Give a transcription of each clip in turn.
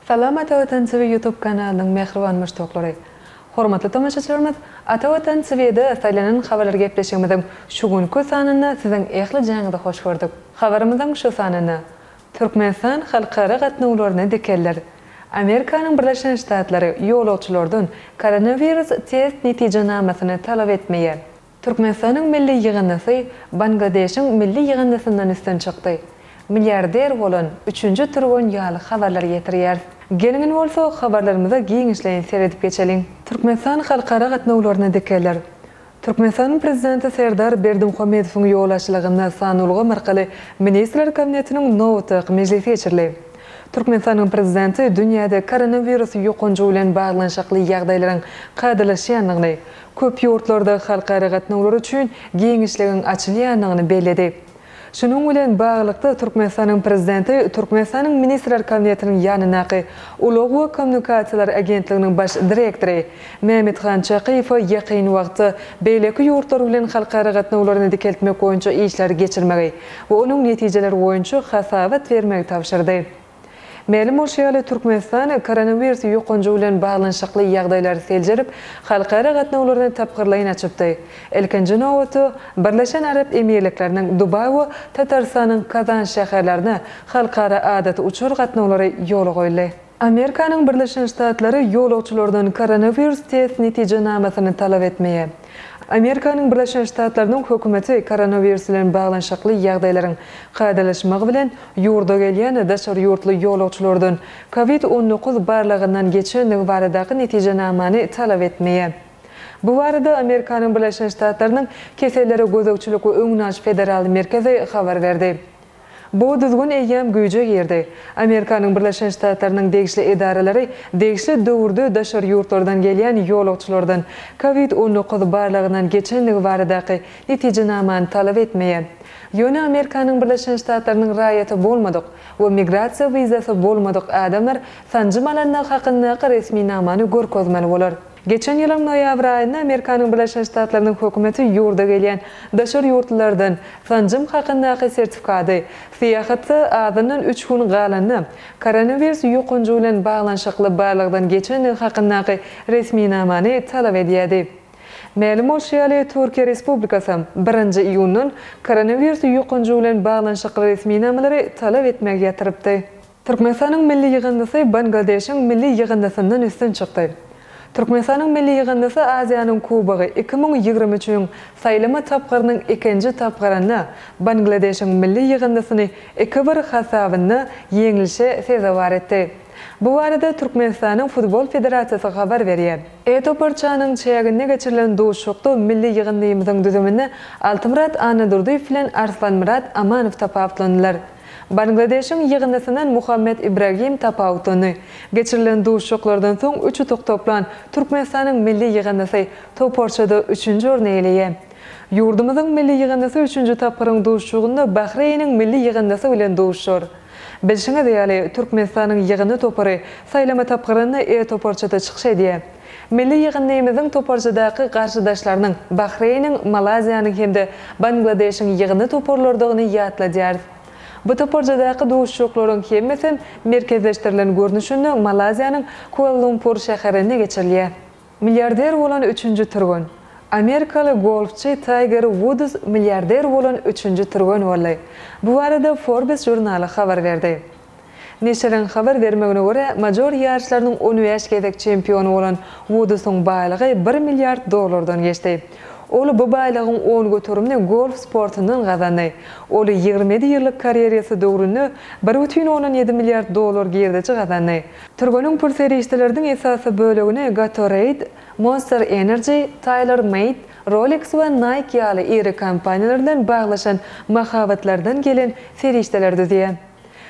Salam Ata Watan TV YouTube kanalynyň mähriban muşdaklary. Hormatly tomaşaçylarymyz, Ata Watan TV'de saýlanan habarlar gepleşigimiziň şu günki sanynda siziň ähli jaňyzy hoş gördük. Habarymyzyň şu sanynda, Türkmenistan halkara gatnawlaryny dikelder. Amerikanyň Birleşen Ştatlary ýolagçylardan koronawirus test netijenamasyny talap etmeýär. Türkmenistanyň milli ýygyndysy Bangladeşiň milli ýygyndysyndan üstün çykdy. Milliarder bolan üçünji türgen ýaly habarlary getirýäris. Geliň indi bolsa habarlarymyza giňişleýin seredip geçeliň. Türkmenistan halkara gatnawlaryny dikelder. Türkmenistanyň Prezidenti Serdar Berdimuhamedowyň ýolbaşçylygynda san ulgamy arkaly Ministrler Kabinetiniň nobatdaky mejlisi geçirildi. Türkmenistanyň Prezidenti dünýäde koronawirus ýokanjy bilen baglanyşykly ýagdaýlaryň kadalaşýandygyny, köp ýurtlarda halkara gatnawlary üçin giňişligiň açylýandygyny belledi. Şunuň bilen baglylykda, Türkmenistanyň Prezidenti Türkmenistanyň Ministrler Kabinetiniň ýanyndaky Ulag we kommunikasiýalar agentliginiň Baş direktory Mämmethan Çakyýewe ýakyn wagtda beýleki ýurtlar bilen halkara gatnawlaryny dikeltmek boýunça işleri geçirmegi we onuň netijeleri boýunça hasabat bermegi tabşyrdy. Mälim bolşy ýaly, Türkmenistan koronawirus ýokanjy bilen baglanyşykly ýagdaýlary seljerip, halkara gatnawlaryny tapgyrlaýyn açypdy. Ilkinji nobatda, Birleşen Arap Emirlikleriniň Dubaý we Tatarystanyň Kazan şäherlerine halkara adaty uçar gatnawlary ýola goýuldy. Amerikanyň Birleşen Ştatlary ýolagçylardan koronawirus test netijenamasyny talap etmeýär. Amerikanyň Birleşen Ştatlarynyň hökümeti koronawirus bilen baglanyşykly ýagdaýlaryň kadalaşmagy bilen ýurda gelýän daşary ýurtly ýolagçylardan Covid on dokuz barlagyndan geçendigi baradaky netijenamany talap etmeýär. Bu barada Amerikanyň Birleşen Ştatlarynyň Kesellere gözegçilik we öňüni alyş federal merkezi habar berdi. Bu düzgün eýýäm güýje girdi. Amerikanyň Birleşen Ştatlarynyň degişli edaralary degişli döwürde daşary ýurtlardan gelýän ýolagçylardan Covid on dokuz barlagyndan geçendigi baradaky netijenamany talap etmeýär. Ýöne Amerikanyň Birleşen Ştatlarynyň raýaty bolmadyk we migrasiýa wizasy bolmadyk adamlar sanjym alandygy hakyndaky resminamany görkezmeli bolar. Geçen ýylyň noýabr aýynda Amerikanyň Birleşen Ştatlarynyň hökümeti ýurda gelýän daşary ýurtlulardan sanjym hakyndaky sertifikady syýahatda azyndan üç gün galanda koronawiris ýokanjy bilen baglanyşykly barlagdan geçendigi hakyndaky resminamany talap edýärdi. Mälim bolşy ýaly, Türkiýe Respublikasam birinji iýundan koronawiris ýokanjy bilen baglanyşykly resminamalary talap etmegi ýatyrypdy. Türkmenistanyň milli ýygyndysy Bangladeşiň milli ýygyndysyndan üstün çykdy. Türkmenistanyň milli ýygyndysy Aziýanyň Kubogy iki müň ýigrimi üçüniň saýlama tapgyrynyň ikinji tapgyrynda Bangladeşiň milli ýygyndysyny iki-bir hasabynda ýeňlişe sezewar etdi. Bu barada Türkmenistanyň Futbol federasiýasy habar berýär. E-toparçanyň çäginde geçirilen duşuşykda milli ýygyndymyzyň düzüminde Altymyrat Annadurdyýew bilen Arslanmyrat Amanow tapawutlandylar. Bangladeşiň ýygyndysyndan Muhammet Ibragim Tapa utandy. Geçirilen duşuşyklardan soň üç utuk toplan Türkmenistanyň milli ýygyndysy toparçada üçünji orny eýeleýär. Ýurdumyzyň milli ýygyndysy üçünji tapgyryň duşuşygynda Bahreýniň milli ýygyndysy bilen duşuşar. Bilşiňiz ýaly, Türkmenistanyň ýygyndy topary saýlama tapgyrynda E toparçada çykyş edýär. Milli ýygyndymyzyň toparçadaky garşydaşlarynyň Bahreýniň, Malaýziýanyň hem-de Bangladeşiň ýygyndy toparlarydygyny ýatladýarys. Bu toparçadaky duşuşyklaryň hemmesem merkezleşdirilen görnüşinde Malaýziýanyň Kuala-Lumpur şäherinde geçirilýär. Milliarder bolan üçünji türgen. Amerikaly golfçy Taýger Wuds milliarder bolan üçünji türgen boldy. Bu barada Forbes žurnaly habar berdi. Neşiriň habar bermegine görä, major ýaryşlarynyň on bäş gezek çempiony bolan Wudusyň baýlygy bir milliard dollardan geçdi. Ol bu baýlygyň on göterimini golf sportundan gazandy. Ol ýigrimi ýedi ýyllyk karýerýasy döwründe bir bütin ondan ýedi milliard dollar girdeji gazandy. Türgeniň pul serişdeleriniň esasy bölegini Gatorade, Monster Energy, Tailor Made, Rolex we Nike ýaly iri kompaniýalar bilen baglaşan mahabatlardan gelen serişdeler düzýär.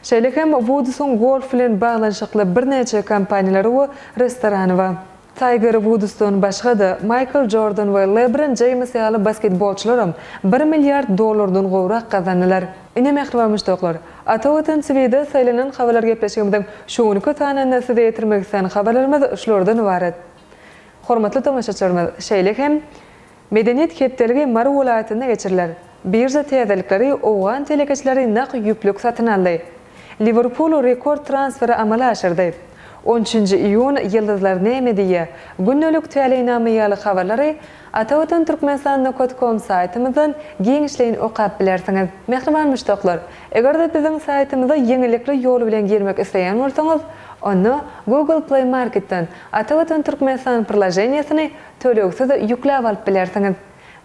Şeýle hem Wudusyň golf bilen baglanyşykly birnäçe kompaniýalary we restorany bar. Taýger Wudusdan başga-da, Maýkl Jordan we Lebron Jeýms ýaly basketbolçylaram bir milliard dollardan gowrak gazandylar. Ine mähriban muşdaklar! Ata Watan TV-de saýlanan habarlar gepleşigimiziň şu günki sanynda size ýetirmek isleýän habarlarymyz şulardan ybarat. Hormatly tomaşaçylarymyz, şeýle hem Medeniýet hepdeligi Mary welaýatynda geçiriler. Birža täzelikleri Owgan telekeçileri nak ýüplük satyn aldy. Liwerpul rekord transferi amala aşyrdy. On üçünji iýun Ýyldyzlar näme diýýä? Gündelik täleýnama ýaly habarlary Ata Watan Türkmenistan nokat kom saýtymyzdan giňişleýin okap bilersiňiz. Mähriban muşdaklar, eger-de biziň saýtymyza ýeňillikli ýol bilen girmek isleýän bolsaňyz, onda Google Play Marketden Ata Watan Türkmenistan prilajeniýesini Tölegsiz ýükläp alyp bilersiňiz.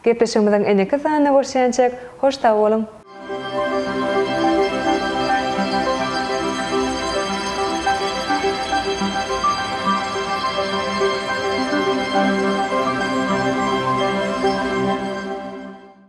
Gepleşigimiziň indiki sanynda görşýänçäk, hoş sag boluň!